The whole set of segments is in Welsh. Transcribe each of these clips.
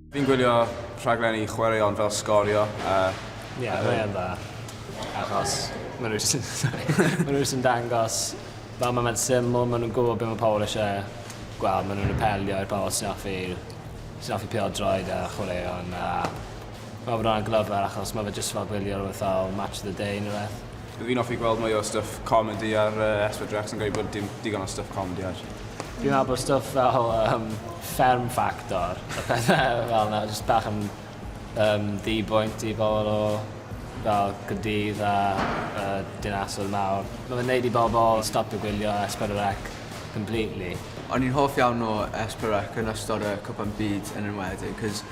Fi'n gwylio rhaglenni chwaraeon fel Sgorio a... Ie, yeah, mae yn dda. Achos maen nhw jyst maen nhw jyst yn dangos fel mae fe'n syml, maen nhw'n gwybod beth mae pobl eisiau gweld, maen nhw'n apelio i'r pobl sy'n offi, sy'n offi pildroed a chwaraeon a fel bod hwnna'n glyfar achos mae fe jyst fel gwylio rhywbeth fel Match of the Day neu rhywbeth. Fi'n offi gweld mwy o stwff comedi ar yy Es Pedwar Ec, fi'n credu bod dim digon o stwff comedi ar Fi'n meddwl bod stwff fel yym Fferm Ffactor a pethe fel 'na jyst bach yn yym ddi-bwynt i bobol o fel Caerdydd a yy dinasoedd mawr. Ma' fe'n neud i bobol stopio gwylio Es Pedwar Ec completely. O'n i'n hoff iawn o Es Pedwar Ec yn ystod y Cwpan Byd yn enwedig 'c'os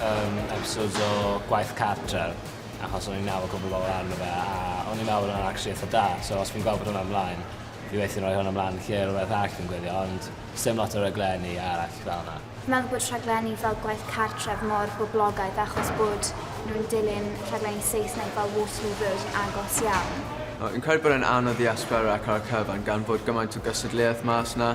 Yym episodes o gwaith cartre achos o'n i'n meddwl cwpwl o bobol arno fe a o'n i'n meddwl bod o'n actually itha da so os fi'n gweld bod hwnna mlaen fi weithie'n roi hwnna mlan lle rwbeth arall fi'n gwylio ond sdim lot o raglenni arall fel 'na. Fi'n meddwl bod rhaglenni fel gwaith cartref mor boblogaidd achos bod nhw'n dilyn rhaglenni Saesneg fel Waterloo Road yn agos iawn. Fi'n credu bod e'n anodd i asgwrn ac ar y cyfan gan fod gymaint o gystadleuaeth mas 'na.